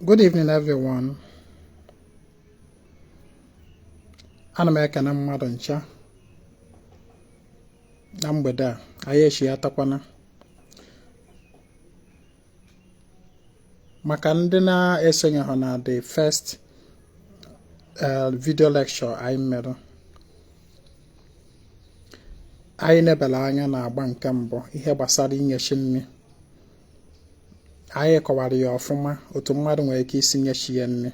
Good evening everyone. Ana m ekene mmadụ ncha na mgbede a anyị echi atakwana maka ndị na-esonyehụ na the first eh, video lecture anyị mere anyị nebala anya na agba nke mbụ ihe gbasara inye chi nri anyị kọwara ya ọfụma otu mmadụ nwere ike isi nye chi ya nri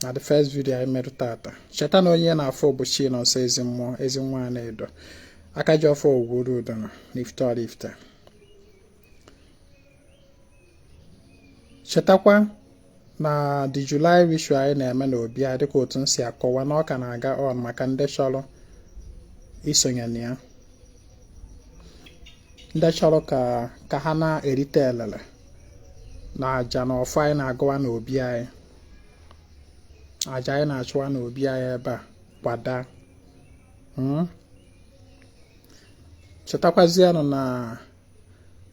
na the first video anyị mere tata cheta na onye na-afụ bụ Chinọnso ezi mmụọ ezi nwa Anaedo aka ji ọfọ ogwu oru udo na Ifite Ọraifite chetakwa na the July ritual anyị na-eme na obi a dịka otu m si akọwa na ọ ka na-aga on maka ndị chọrọ isonye na ya ndị chọrọ ka ka ha na-erite elele na aja na ọfọ anyị na-agọwa n'obi anyị aja anyị na-achụwa n'obi anyị ebe a kwada hmm? chetakwazianụ na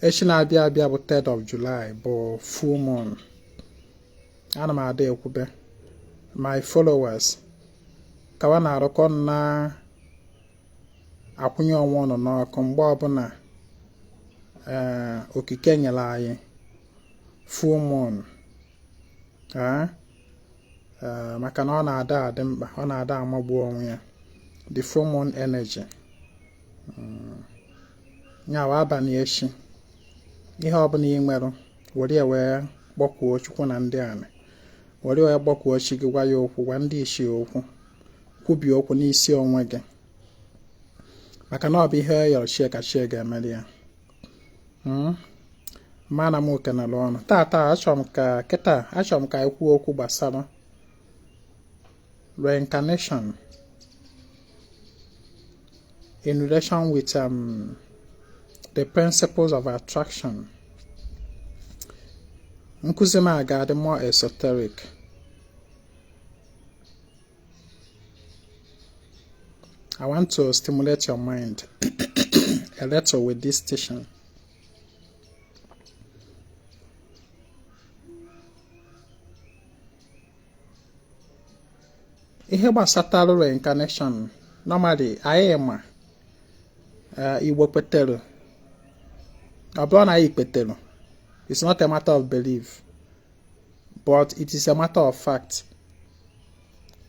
echi na-abịa abịa bụ 3rd of July bụ full moon ana m ada ekwube my followers ka wa na-arụkọ na akwụnye onwe ụnụ n'ọkụ mgbe ọbụla eh, okike nyere anyị full moon eh, eh, maka na ọ na-ada adị mkpa ọ na-ada amagbu onwe ya the full moon energy hmm. nya wụ abalị echi ihe ọbụla ị nwere were ya wee kpọkuo chukwu na ndị anị were wee kpọkuo chi gị gwa ya okwu gwa ndị ichie okwu kwubi okwu n'isi onwe gị maka na ọ bụ ihe yọrọ chi ya ka chi ya ga-emeli ya hmm? mana m ekenela ụnụ tata achọrọ m ka kịta achọrọ m ka anyị kwuo okwu gbasara reincarnation in relation with um, the principles of attraction nkụzi m a ga-adị more esoteric I want to stimulate your mind a little with this teaching. ihe gbasatara reincarnation normally anyị ma eh, igbo kwetere ọ bụrọ na anyị kwetere it's not a matter of belief but it is a matter of fact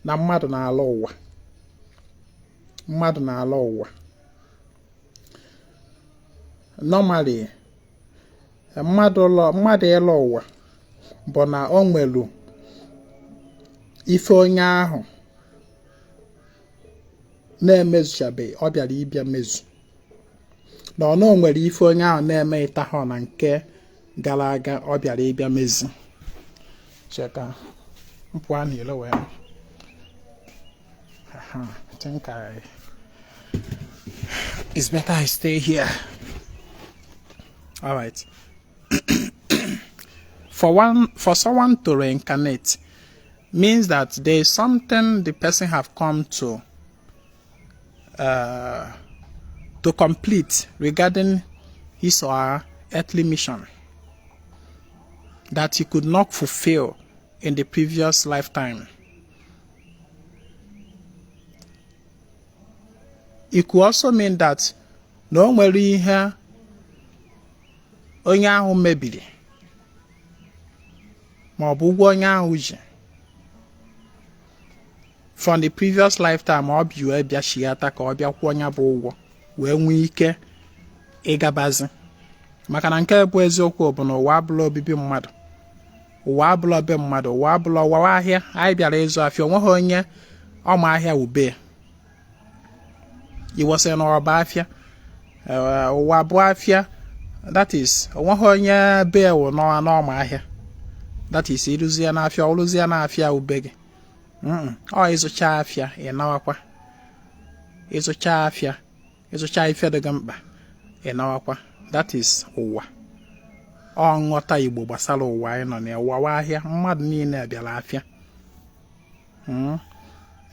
na mmadụ na-ala ụwa mmadụ na-ala ụwa normally mmadụ ịlọ ụwa bụ na o nwelu ife onye ahụ na-emezuchabeghị ọ bịara ịbịa mezu na ọ nwere ife onye ahụ na-emetahọ na nke gara aga ọ bịara ịbịa mezi chee ka m pụa n'ilo wee think I it's better I stay here all right for one for someone to reincarnate means that there is something the person have come to uh, to complete regarding his or her earthly mission that he could not fulfill in the previous lifetime. It could also mean that na o nwere ihe onye ahụ mebiri ma ọ bụ ụgwọ onye ahụ ji from the previous lifetime ọ bịa wee bịa chighata ka ọ bịa kwụọ ya bụ ụgwọ wee nwee ike ịgabazi maka na nke bụ eziokwu bụ na ụwa abụla obibi mmadụ ụwa abụla be mmadụ ụwa abụla ụwa wụ ahịa anyị bịara ịzụ afịa onweghị onye ọma ahịa wụ be e wee sị na ụwa bụ afịa eh, ụwa bụ afịa that is onweghị onye be ya wụ n'ọma ahịa that is i ruzie n'afịa ọrụzie na afịa wụ be gị ọ ịzụcha afịa ịnawakwa ịzụcha afịa ịzụcha ife dị gị mkpa ịnawakwa that is ụwa ọ nghọta igbo gbasara ụwa anyị nọ na ụwa wụ ahịa mmadụ niile bịara afịa hmm.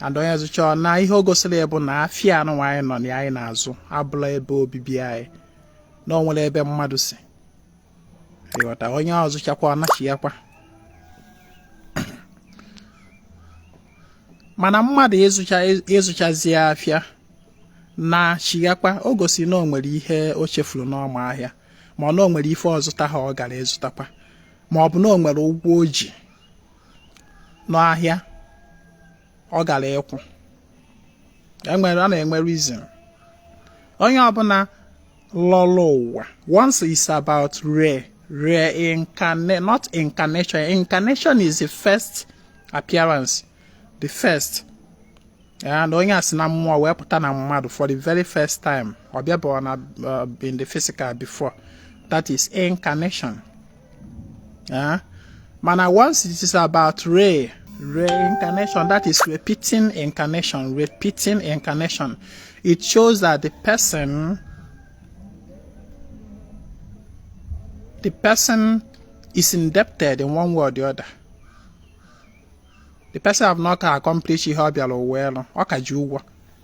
and onye zụcha ọ naa ihe o gosiri bụ na afịa n'ụwa anyị nọ na anyị na-azụ abụla ebe obibi anyị na ọ nwere ebe mmadụ si ịghọta onye ọ zụchakwa ọ nachighakwa mana mmadụ ịzụchazi afịa nachighakwa o gosi na o nwere ihe o chefuru n'ọma ahịa ma ọ na o nwere ife ọ zụtaha ọ gara ịzụtakwa ma ọ bụ na o nwere ụgwọ o ji n'ahịa ọ gara ịkwụ e nwere a na-enwe reason onye ọbụla lọrọ ụwa once it's about re reincarnate not incarnation incarnation is the first appearance the first ya na onye a si na mmụọ wee pụta na mmadụ for the very first time ọ bịabeghị na uh, in the physical before that is incarnation ya mana once it is about re reincarnation that is repeating incarnation repeating incarnation it shows that the person the person is indebted in one way or the other the person have not accomplished ihe ọ bịara ụwa ịlụ ọ ka ji ụgwọ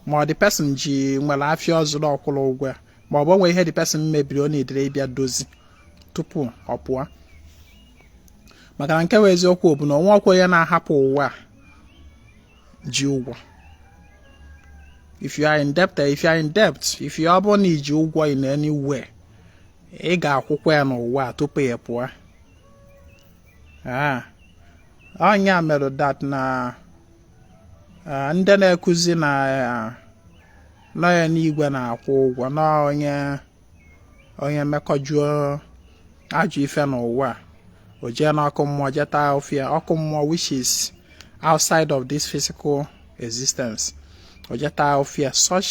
ma ọ the person ji nwere afịa ọ zụrụ ọ kwụrọ ụgwọ ya ma ọ bụ o nwe ihe the person mebiri ọ needịrị ịbịa dozi tupu ọ pụọ maka na nke bụ eziokwu bụ na o nwerọkwa onye na-ahapụ ụwa ji ụgwọ if you are in debt if you are in debt if you ọ bụrụ na i ji ụgwọ in anywhere ị ga-akwụkwa ya n'ụwa tupu ị pụọ ah, ọ ya mere that na ah, ndị na-ekuzi na ah, na ọ enigwe na-akwụ ụgwọ na onye onye mekọjuo ajọ ife n'ụwa o jee n'ọkụ mmụọ je ta afụfụ ya ọkụ mmụọ which is outside of this physical existence o je ta afụfụ ya such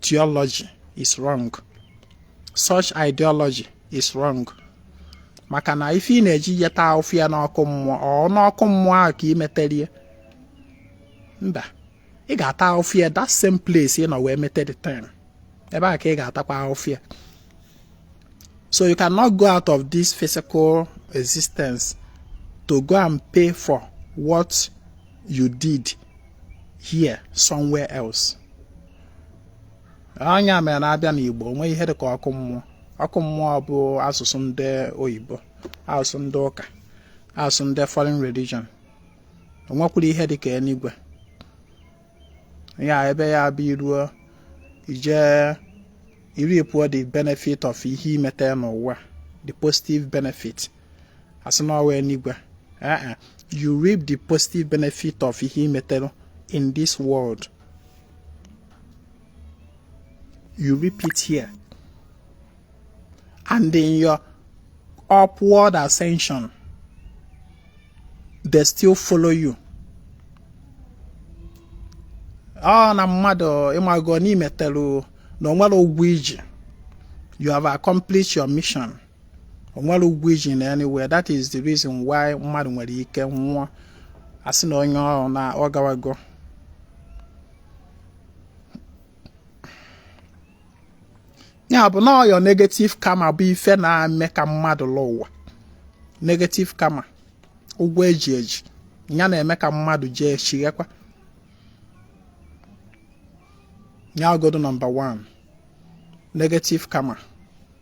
theology is wrong such ideology is wrong maka na ife ị na-eje ịta afụfụ ya n'ọkụ mmụọ ọ n'ọkụ mmụọ ahụ ka ị metere ya mba ị ga-ata afụfụ ya that same place ị nọ wee mete the time ebe a ka ị ga-atakwa afụfụ ya so you cannot go out of this physical existence to go and pay for what you did here somewhere else ọ ya mere na a bịa n'Igbo o nwerọ ihe dịka ọkụ mmụọ ọkụ mmụọ bụ asụsụ ndị oyibo asụsụ ndị ụka asụsụ ndị foreign religion o nwekwarọ ihe dịka eluigwe ya ebe ya bụ i ruo i je i reapụọ the benefit of ihe i metere n'ụwa the positive benefit a sị na ọ wụ eluigwe you reap the positive benefit of ihe i metere in this world you reap it here and in your upward ascension they still follow you ọ na mmadụ ị mago na i metelu na o nwerọ ụgwọ i ji you have accomplished your mission o nwere ụgwọ i ji na anywhere that is the reason why mmadụ nwere ike nwụọ asị na onye ọrụ na ọ gawago ya bụ na your negative karma bụ ife na-eme ka mmadụ lụ ụwa negative karma ụgwọ eji eji ya na-eme ka mmadụ jee chighekwa ya ogodo nọmba 1 negative karma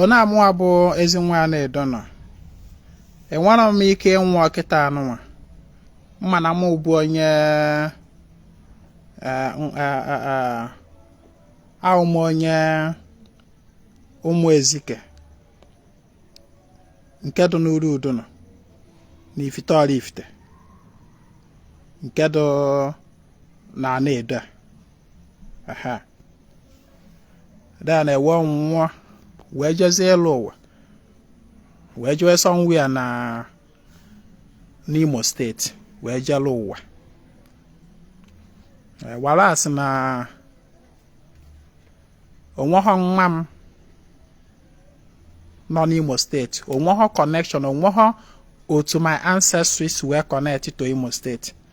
ọ na mụwa bụ ezi nwa anaedo nọ enwere m ike ịnwụ ọkịta anụnwa mana mụ bụ onye eh, eh, eh, abụ m onye ụmụ ezike nke dị n'uru udo nọ na ifite oraifite nke dị na anaedo a then wee nwụọ wee jezie lụ ụwa wee jewe somewhere na n'imo steeti wee je lụ ụwa whereas na onweghọ nwa m nọ n'imo steeti onweghọ connection onweghọ otu my ancestry si wee connect to imo steeti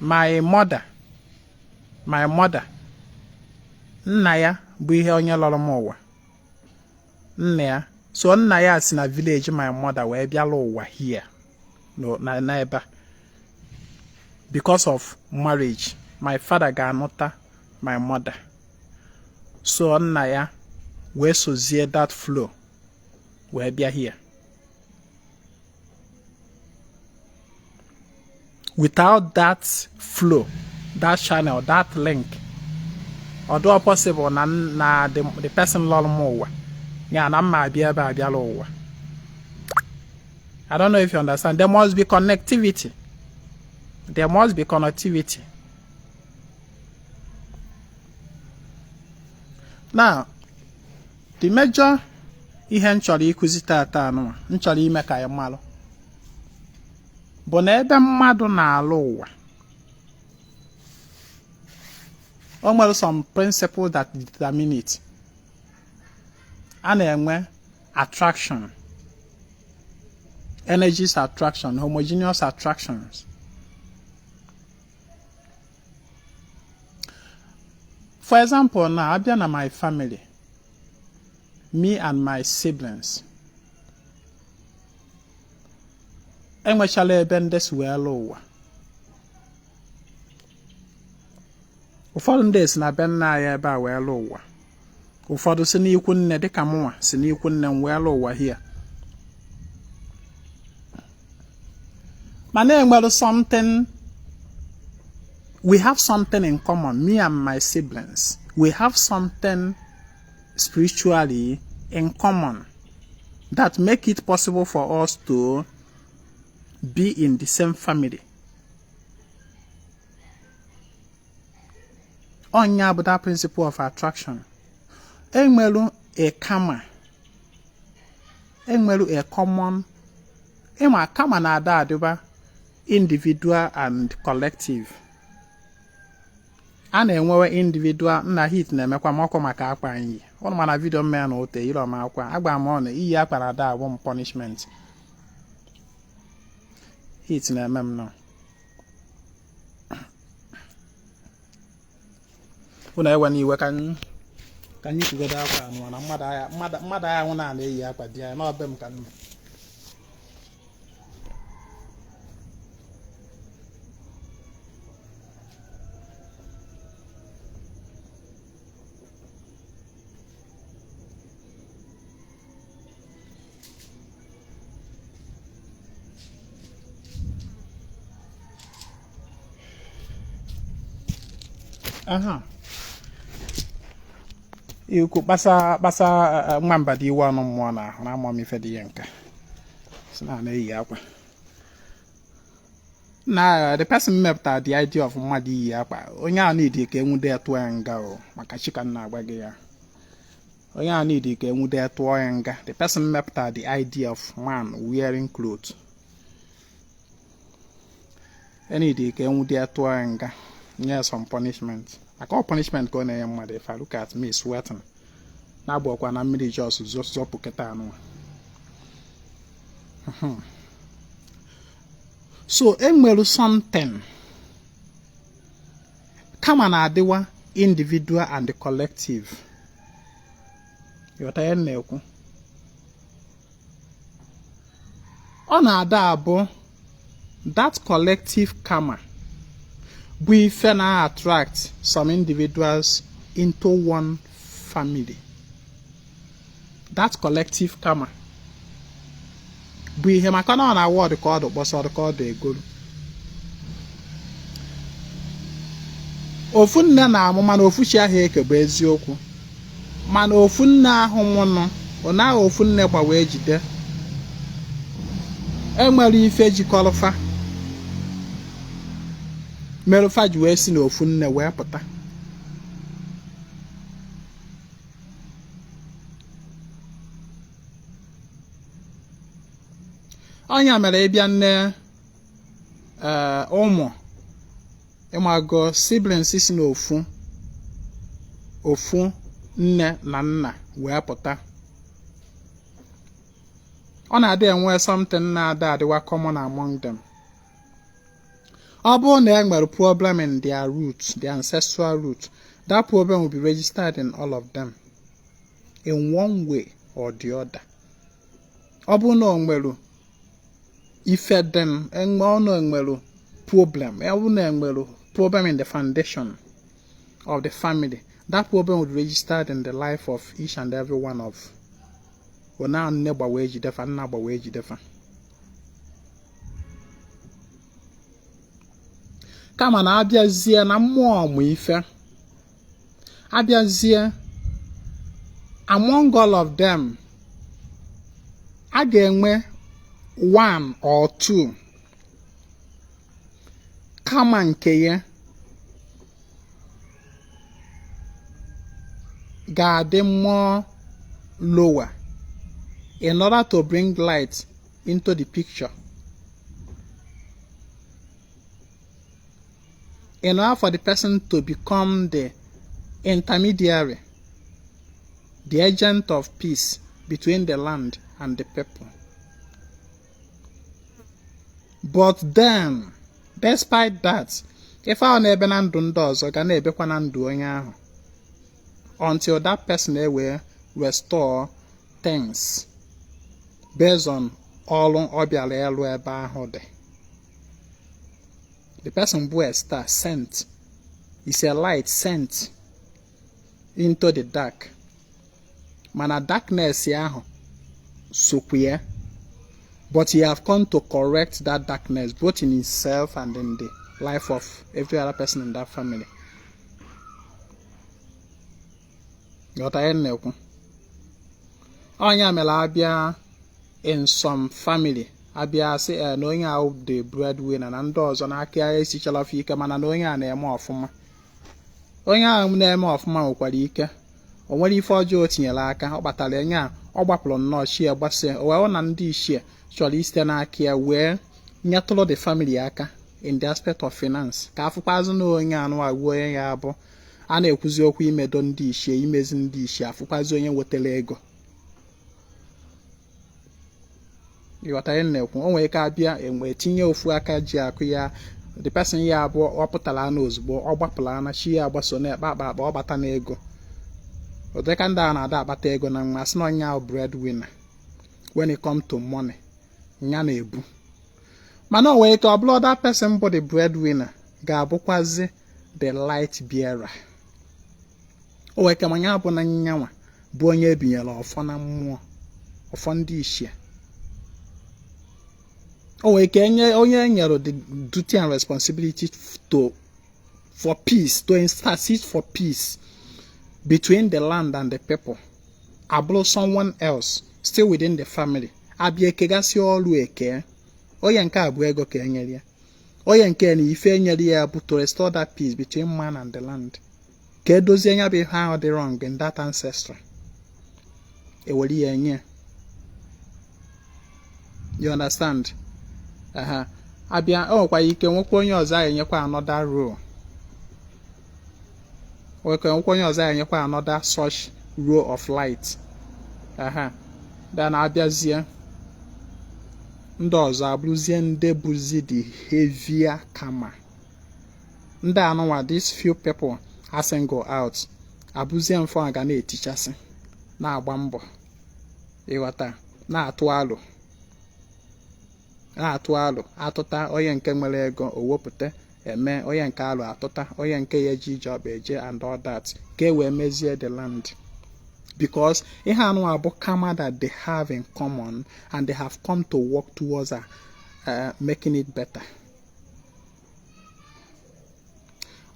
my mother my mother nna ya bụ ihe onye lọrọ m ụwa nna ya so nna ya si na village my mother wee bịa lụ ụwa here na ebe a because of marriage my father ga-anụta my mother so nna ya wee sozie that flow wee bịa here without that flow that channel that link ọ dịghọ possible na na the person lọrọ m ụwa ya na mma abịa ebe a bịa lụ ụwa I don't know if you understand there must be connectivity there must be connectivity now the major ihe m chọrọ ịkụzi tata anụwa m chọrọ ime ka anyị malụ bụ na ebe mmadụ na-alụ ụwa o nwere some principle that determine it a na-enwe attraction energies attraction homogeneous attractions for example na abịa na my family me and my siblings enwechala ebe ndị si wee lụ ụwa ụfọdụ ndị si na be nna anyị ebe a wee lụ ụwa ụfọdụ si n'ikwu nne dịka mụnwa si n'ikwu nne m wee lụọ ụwa here mana enwere something we have something in common me and my siblings we have something spiritually in common that make it possible for us to be in the same family ọ nya bụ that principle of attraction enwelu a karma enwelu a common ịma karma na-ada adịba individual and collective a na-enwewe individual nna heat na-emekwa m ọkụ maka akwa anyị ụnụ ma na video mmea na ote ire ọma akwa agba m ọnụ iyi akwa na-ada abụ m punishment heat na-eme m nọ unu ewena iwe ka ka anyị kwugodo akwa anụ na mmadụ agha mmadụ agha nwụ na-ana eyi akwa dị ya n'obi m ka nna aha ikwu kpasa kpasa eh, eh, nwamba dị iwe ọnụ mmụọ na ahụ na amụọ m ife dị ya nka si na na-eyi akwa na eh, the person mepụta the idea of mmadụ iyi akwa onye ahụ need ka enwude ya tụọ ya nga o maka chi ka na-agwa gị ya onye a need ka enwude tụọ ya nga the person mepụta the idea of man wearing cloth a need ka enwude tụọ ya nga nye some punishment maka ọ punishment ka ọ na-enye mmadụ if I look at me sweating na-abụ ọkwa na mmiri just zopụ kịta nụ hmm. so enwere something karma na-adịwa individual and collective ịghọta ihe m na-ekwu ọ na-ada abụ that collective karma bụ ife na-attract some individuals into one family that collective karma bụ ihe maka na ọ na-awụ ọdụ ka ọdụ kpọsa ọdụ ka ọdụ egolu ofu nne na-amụ mana ofu chi ahụ eke bụ eziokwu mana ofu nne ahụ mụnụ ọ naghị ofu nne gbawa ejide enwere ife jikọrọ fa merụ fa ji wee si na ofu nne wee pụta ọ nya mere ị bịa na eh, ụmụ ị mago siblings si n'ofu ofu nne na nna wee pụta ọ na-adị enwe something na-adị adịwa common among them ọ bụrụ na e nwere problem in their root their ancestral root that problem will be registered in all of them in one way or the other ọ bụrụ na ọ nwere ife dị enwe ọnụ enwere problem ọ bụrụ na enwere problem in the foundation of the family that problem will be registered in the life of each and every one of ọ na nne gbawa ejide fa nna gbawa ejide fa kama na abịazie na mmụọ ọmụ ife abịazie among all of them a ga-enwe one or two karma nke ya ga-adị more lower in order to bring light into the picture in order for the person to become the intermediary the agent of peace between the land and the people but then despite that ife ahụ na-ebe na ndụ ndị ọzọ ga na-ebekwa na ndụ onye ahụ until that person ewee restore things based on ọrụ ọ bịara ịlụ ebe ahụ the the person bụ a star sent is a light sent into the dark mana darkness ahụ sokwu ya but he have come to correct that darkness both in himself and in the life of every other person in that family ghọta ihe m na-ekwu ọ nya mere abịa in some family abịa sị eh, na onye ahụ the breadwinner na ndị ọzọ na aka ya esichala ofe ike mana na onye a na-eme ọfụma onye ahụ na-eme ọfụma nwekwara ike o nwere ife ọjọọ o tinyere aka ọ kpatara onye a ọ gbapụrụ nnọọ chi ya gbasie o wee na ndị ichie chọrọ isite n'aka ya wee nyetụrụ the family aka in the aspect of finance ka afụkwazị na onye anụ agwa onye ya abụ a na-ekwuzi okwu imedo ndị ichie imezi ndị ichie afụkwazi onye wetara ego ị ghọta ihe m na-ekwu o nwere ike abịa enwe tinye ofu aka ji akụ ya the person ya abụọ ọ pụtara na ozugbo ọ gbapụla na chi ya agbaso na-ekpe akpa akpa ọ bata n'ego ụdịka ndị a na-ada akpata ego na nwa asị na onye ahụ breadwinner when it come to money ya na-ebu mana o nwere ike ọ bụrụ that person bụ the breadwinner ga-abụkwazi the light bearer o nwere ike ma ya bụ na nyanwa bụ onye ebinyere ọfọ na mmụọ ọfọ ndị ichie o nwere ike onye enyere the duty and responsibility to for peace to intercede for peace between the land and the people abụrụ someone else still within the family abịa ekegasị ọrụ eke onye nke a bụ ego ka enyere ya onye nke na ife enyere ya bụ to restore that peace between man and the land ka edozie nya bụ ihe ahụ dị wrong in that ancestry ewere ya enye you understand aha abịa o nwekwara ike nwekwa onye ọzọ a enyekwa another role nwekwa nwekwa onye ọzọ a ya-enyekwa another such role of light aha then abịazie ndị ọzọ abụrụzie ndị bụzi the heavier karma ndị anụnwa these few people a single out abụzie mfọ a ga na-etichasị na-agba mbọ ị ghọta na-atụ alo na-atụ alo atụta onye nke nwere ego o wepụta eme onye nke alo atụta onye nke ya eji ije ọ ba eje and all that ka e wee mezie the land because ihe anụwa bụ karma that they have in common and they have come to work towards a, uh, making it better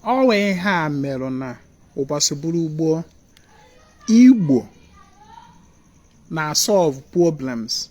o nwee ihe a merụ na ụbọchị bụrụ gboo igbo na solve problems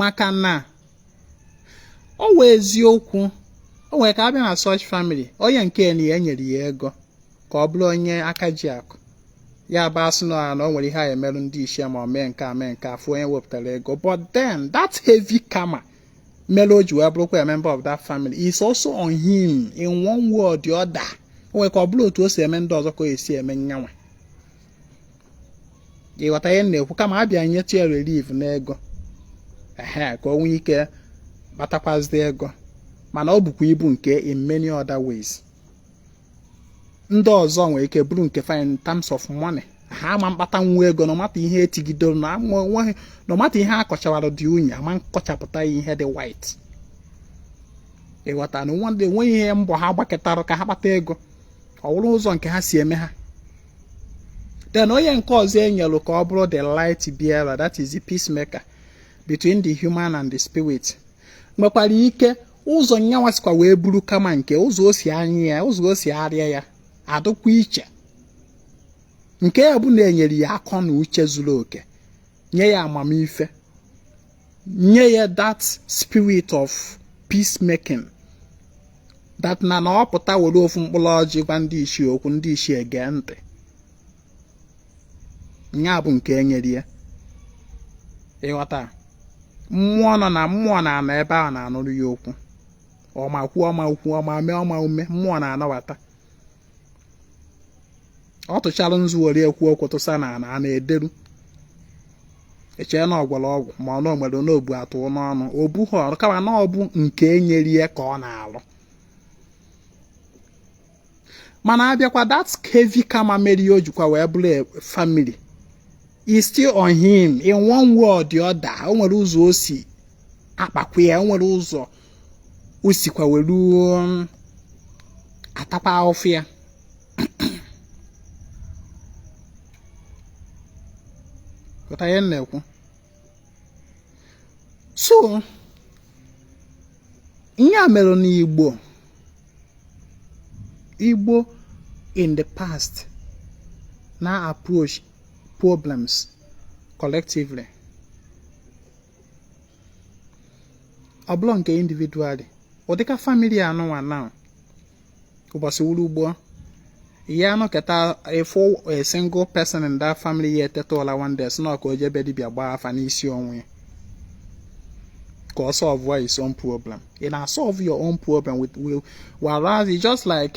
maka na ọ wụ eziokwu o nwere ike abịa na such family onye nke na ya enyere ya ego ka ọ bụrụ onye aka ji akụ ya bụ a sị na o nwere ihe a emeru ndị ichie ma ọ mee nke a mee nke afọ onye wepụtara ego but then that heavy karma mere o ji wee bụrụkwa a member of that family is also on him in one way or the other o nwere ike ọ bụrọ otu o si eme ndị ọzọ ka o si eme nyanwa ị ghọta ihe m na-ekwu kama abịa nyetụ ya relief n'ego ehe ka o nwee ike kpatakwazi ego mana o bukwa ibu nke in many other ways ndị ọzọ nwere ike buru nke ha in terms of money ha ama mkpatanwu ego no matter ihe etigidoro no matter ihe a kọchawara dị unyi ama nkọchapụta ihe dị white ị ghọta na o nweghị ihe mbọ ha gbaketara ka ha kpata ego ọ wụrụ ụzọ nke ha si eme ha then onye nke ọzọ enyelu ka ọ bụrụ the light bearer that is the peacemaker between the human and the spirit nwekwara ike ụzọ nyanwa sikwa wee buru karma nke ụzọ o si anyị ya ụzọ o si arịa ya adịkwa iche nke ya bụ na enyere ya akọ na uche zuru oke nye ya amamife nye ya that spirit of peacemaking that na na ọ pụta were ofu mkpụrụ ọjị gwa ndị ichie okwu ndị ichie gee ntị ya bụ nke enyere ya ị ghọta mmụọ nọ na mmụọ na-anọ ebe ahụ na-anụrụ ya okwu ọ ma kwuo ọ marọ kwuo ọ ma mee ọ marọ mee mmụọ na-anabata ọ tụchara nzu were ekwu okwu tụsa n'ana ana ederu echee na ọ gwọrọ ọgwụ ma ọ na o nwere n'obu atụ n'ọnụ ọ bụrọ kama na ọ bụ nke enyere ya ka ọ na-alụ mana abịakwa that heavy karma mere ya o jikwa wee bụrụ family is still on him in one way or the other o nwere ụzọ o si akpakwa ya o nwere ụzọ o sikwa were um, atakwa ahụfụ ya ị ghọta ihe m na-ekwu so nya mere n'igbo igbo in the past na-approach problems collectively ọ bụrọ nke individually ọ dịka family anụnwa na ụbọchị wuru ugbo ya nọketa ị fụ a single person in that family ya eteta ụla one day sị na ọ ka-eje ebe dibịa gbaa afa n'isi onwe ya ka ọ solve his own problem ị na-solve your own problem with whereas just like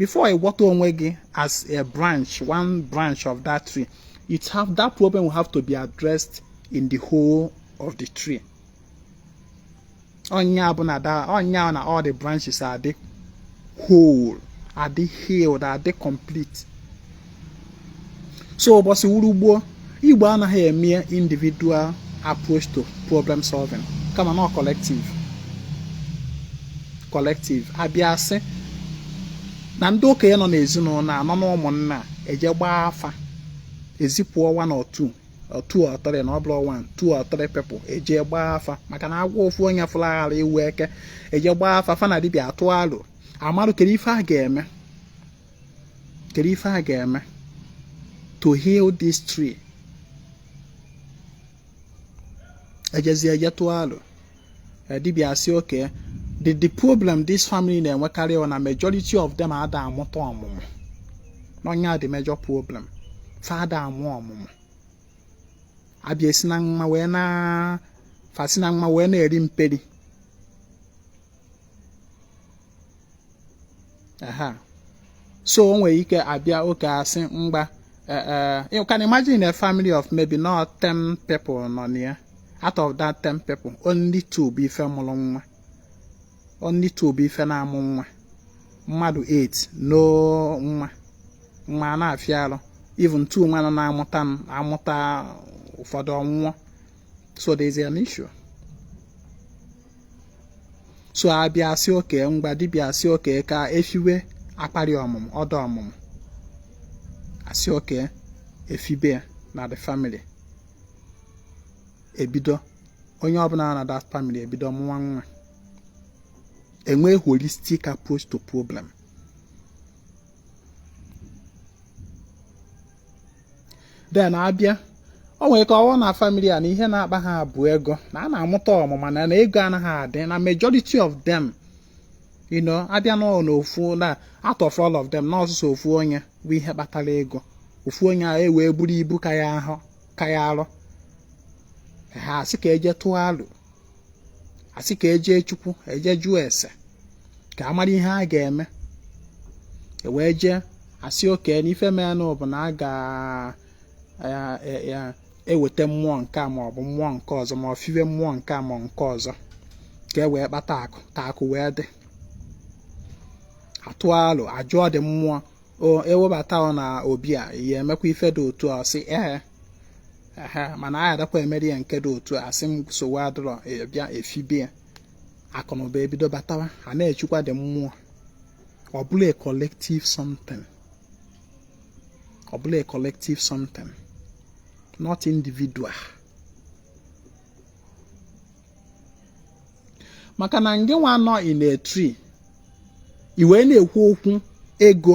before ị nweta onwe gị as a branch one branch of that tree it have that problem will have to be addressed in the whole of the tree ọ nya bụ na all the branches adị whole adị healed adị complete so ụbọchị wụrụ gboo igbo anaghị eme individual approach to problem solving kama na collective collective abịa asị na ndị okenye nọ n'ezinụlọ a nọ na ụmụnna eje gbaa afa ezipụ one or two two or three na ọ bụrụ one two or three people eje gbaa afa maka na agwọ ofu onye fụrụ aghara ịwụ eke eje gbaa afa fa na dibịa atụ alụ amarụ kedu ife a ga-eme kedu ife a ga-eme to heal this tree ejezie je tụọ alụ eh, dibịa asị okay the the problem this family na-enwekarị na majority of them ada amụta ọmụmụ na ọ nya the major problem fa ada amụ ọmụmụ abịa esi na mma wee na fasi na mma wee na-eri mperi aha so o nwere ike abịa okay asị mgba eh, eh, you can imagine a family of maybe not 10 people nọ na ya out of that 10 people only two bụ ife mụrụ nwa only two bụ ife na-amụ nwa mmadụ 8 no nwa nwa na-afịa arụ even two nwa nọ na-amụta amụta ụfọdụ ọnwụọ so there is an issue so abịa asị okay ngwa dibịa asị okay ka efiwe akwari ọmụmụ ọda ọmụmụ asị okay efibe na the family ebido onye ọbụla na that family ebido mụwa nwa enwe holistic approach to problem then abịa o nwere ka ọ wụ na family a na ihe na-akpa ha bụ ego na a na-amụta ọmụmụ mana ego anaghị adị na majority of them you know abịa na n'ofu na out of all of them na ọ sọsọ ofu onye bụ ihe kpatara ego ofu onye ahụ ewee buru ibu ka ya ahụ ka ya arụ ha asị ka eje tụọ alụ asị ka eje chukwu eje jụọ ese ka amara ihe a ga-eme e wee jee asị okay na ife menụ bụ na a ga-eweta e, e, mmụọ nke a maọbụ mmụọ nke ọzọ ma ọ fiwe mmụọ nke a ma nke ọzọ ka e wee kpata akụ ka akụ wee dị atụ alụ ajụọ ndị mmụọ ewebata ọ na obi a ya emekwa ife dị otu a sị ee ehe mana a adakwa emeri ya nke dị otu a sị m sowe adịrọ e, bịa efibe ya akụ na ụba ebido batawa a na-echukwa the mmụọ ọ bụlụ a collective something ọ bụlụ a collective something not individual maka na ngị nwa nọ in a tree i wee na-ekwu okwu ego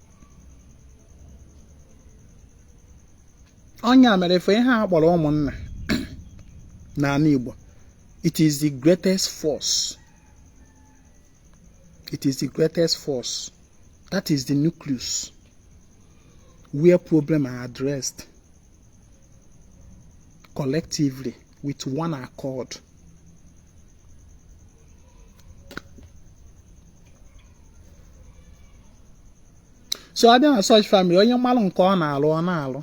ọ nya mere ife ihe a kpọrọ ụmụnna n'ala Igbo it is the greatest force it is the greatest force that is the nucleus where problem are addressed collectively with one accord so abịa na such family onye malụ nke ọ na-alụ ọ na-alụ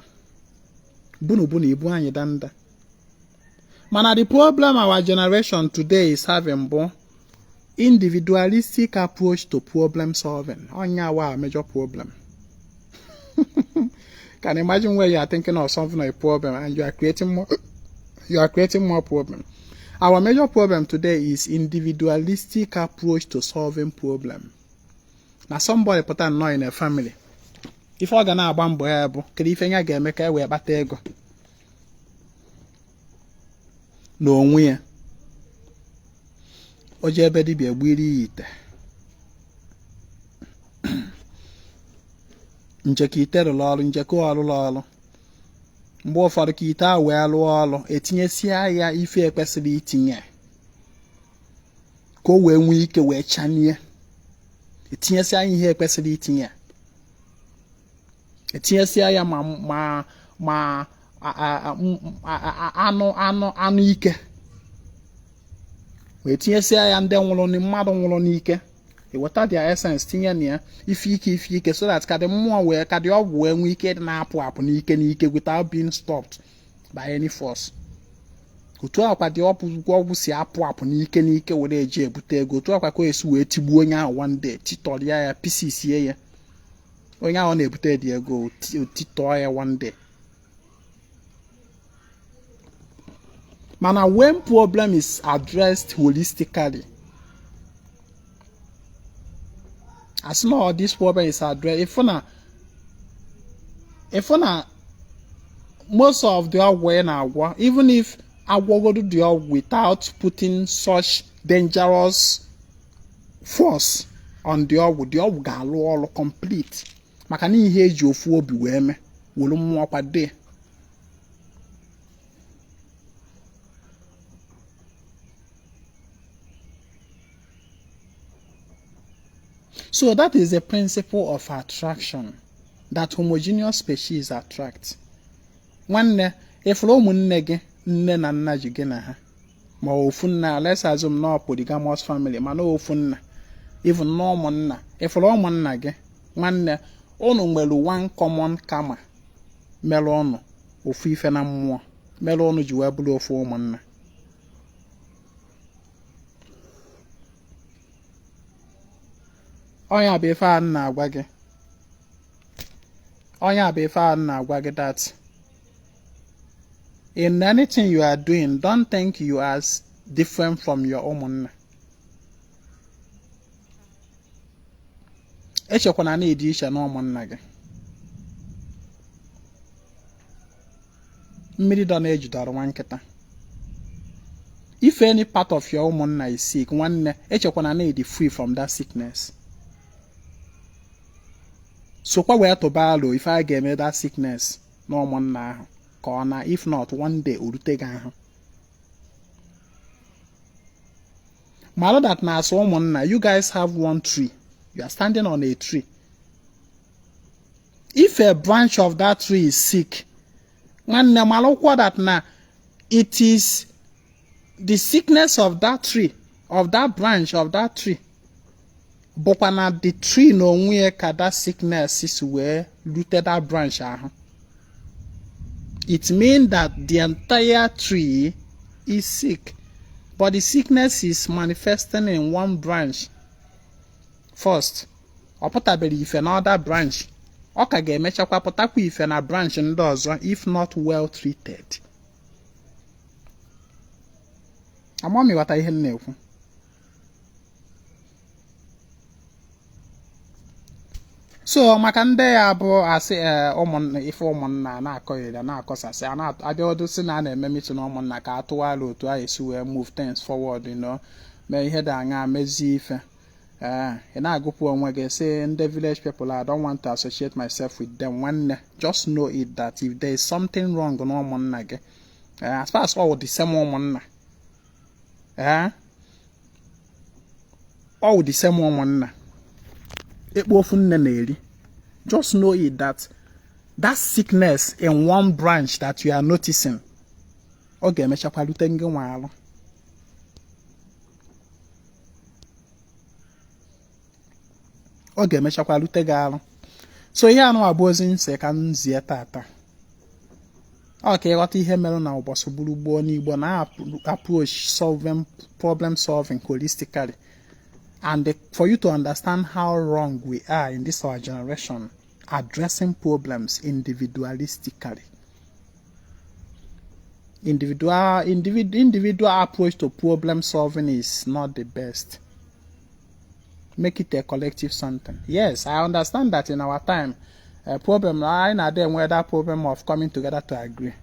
bunu bunu ibu anyị danda mana the problem our generation today is having bụ individualistic approach to problem solving ọ nya our major problem can imagine where you are thinking of solving a problem and you are creating more you are creating more problem our major problem today is individualistic approach to solving problem na somebody pụta nnọọ in a family ife ọ ga na-agba mbọ ya bụ kedu ife ya ga-eme ka e wee kpata ego n'onwe ya o je ebe dibịa gbiri ya ite nche ka ite rụrụ ọrụ nche ka ọ rụrụ ọrụ mgbe ụfọdụ ka ite a wee lụọ ọrụ etinyesia ya ife e kwesịrị itinye ka o wee nwee ike wee chanie etinyesia ihe e kwesịrị itinye etinyesịa ya ma ma ma anụ anụ anụ ike wee tinyesịa ya ndị nwụrụ mmadụ nwụrụ n'ike eweta their essence tinye na ya ife ike ife ike so that ka the mmụọ wee ka the ọgwụ wee nwee ike na-apụ apụ n'ike n'ike without being stopped by any force otu a kwa the ọpụgwọ ọgwụ si apụ apụ n'ike n'ike were eje ebute ego otu a kwa ka e si wee tigbuo onye ahụ one day titọrịa ya pisisie ya onye ahụ na-ebute the ego o titọọ ya one day mana when problem is addressed holistically as long as this problem is addressed ị fụ na ị fụ na most of the ọgwụ ị na-agwọ even if a gwọgodo the ọgwụ without putting such dangerous force on the ọgwụ the ọgwụ ga-alụ ọrụ complete maka na ihe eji ofu obi wee mee were mmụọ kwado ya So that is the principle of attraction that homogeneous species attract. nwanne ịfụrụ ụmụnne gị nne na nna ji gị na ha ma ofu nna let's assume na polygamous family mana ofu nna even na ụmụnna ịfụrụ ụmụnna gị nwanne ụnụ nwere one common karma mere ụnụ ofu ife na mmụọ mere ụnụ ji wee bụrụ ofu ụmụnna ọ nya bụ ife a na-agwa gị ọ nya bụ ife a na-agwa gị that In anything you are doing, don't think you are different from your ụmụnna. Echekwana na ịdị iche na ụmụnna gị. Mmiri dọ n'eju dọọrọ nwa nkịta. If any part of your ụmụnna is sick, nwanne, echekwana na ịdị free from that sickness. sokwa wee tụba alo ife a ga-eme that sickness na ụmụnna ahụ ka ọ naa if not one day orute gị ahụ mara that na as ụmụnna you guys have one tree you are standing on a tree if a branch of that tree is sick nwanne marụkwa that na it is the sickness of that tree of that branch of that tree bụkwa na the tree na onwe ya ka that sickness si wee rute that branch ahụ it mean that the entire tree is sick but the sickness is manifesting in one branch first ọ pụtaberọ ife na other branch ọ ka ga-emechakwa pụtakwa ife na branch ndị ọzọ if not well treated ama m ị ghọta ihe m na-ekwu so maka ndị ya bụ a sị eh, ụmụnna ife ụmụnna na-akọ ya na-akọsasị a na-abịa ọdụ sị na a na-eme meeting ụmụnna ka a tụọ alo otu a esi wee move things forward you know mee ihe dị aṅa mezie ife ee eh, ị na-agụpụ onwe gị sị ndị village people I don't want to associate myself with them nwanne just know it that if there is something wrong na ụmụnna gị eh, as far as all the same ụmụnna ee ọ wụ the same ụmụnna ekpo ofu nne na-eri just know it that that sickness in one branch that you are noticing ọ ga-emechakwa rute ngị nwa arụ ọ ga-emechakwa rute gị arụ so ihe anụwa bụ ozi m sị ka m zie tata ọ ka ị ghọta ihe mere na ụbọchị gburu gboo ndị igbo na-approach problem solving holistically and for you to understand how wrong we are in this our generation addressing problems individualistically individual approach to problem solving is not the best make it a collective something yes i understand that in our time uh, problem anyị na-adị enwe that problem of coming together to agree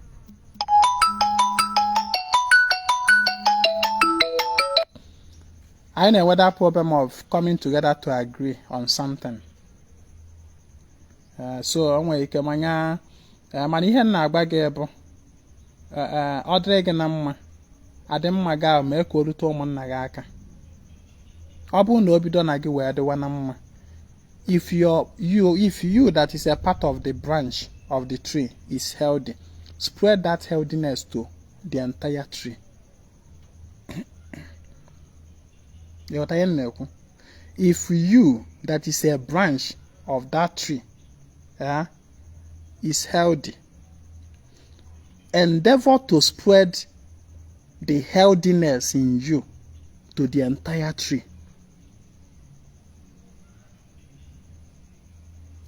anyị na-enwe that problem of coming together to agree on something uh, so o nwere ike manya uh, mana ihe m na-agwa gị bụ e, e, ọ dịrị gị na mma adị mma gị ahụ mee ka o rute ụmụnna gị aka ọ bụrụ na o bido na gị wee dịwa na mma if you that is a part of the branch of the tree is healthy spread that healthiness to the entire tree ị ghọta ihe m na-ekwu if you that is a branch of that tree uh, is healthy Endeavor to spread the healthiness in you to the entire tree.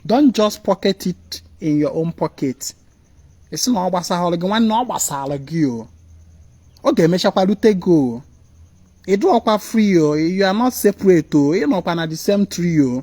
Don't just pocket it in your own pocket. Ị sị na ọ gbasarọ gị nwanne ọ gbasara gị o. Ọ ga-emechakwa rute gị o. Ị dụọkwa free o. You are not separate o. Ị nọkwa na the same tree o.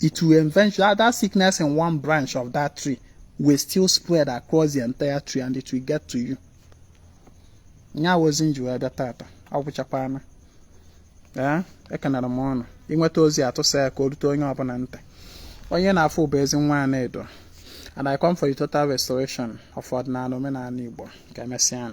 it will eventually that sickness in one branch of that tree will still spread across the entire tree and it will get to you nya wụ ozi m ji wee bịa tata agwụchakwana ee ekenere m unu ị nweta ozi a tụsa ya ka o rute onye ọbụna ntị onye ị na-afụ bụ Ezinwa Anaedo and I come for the total restoration of ọdịnana omenana Igbo ka emesịa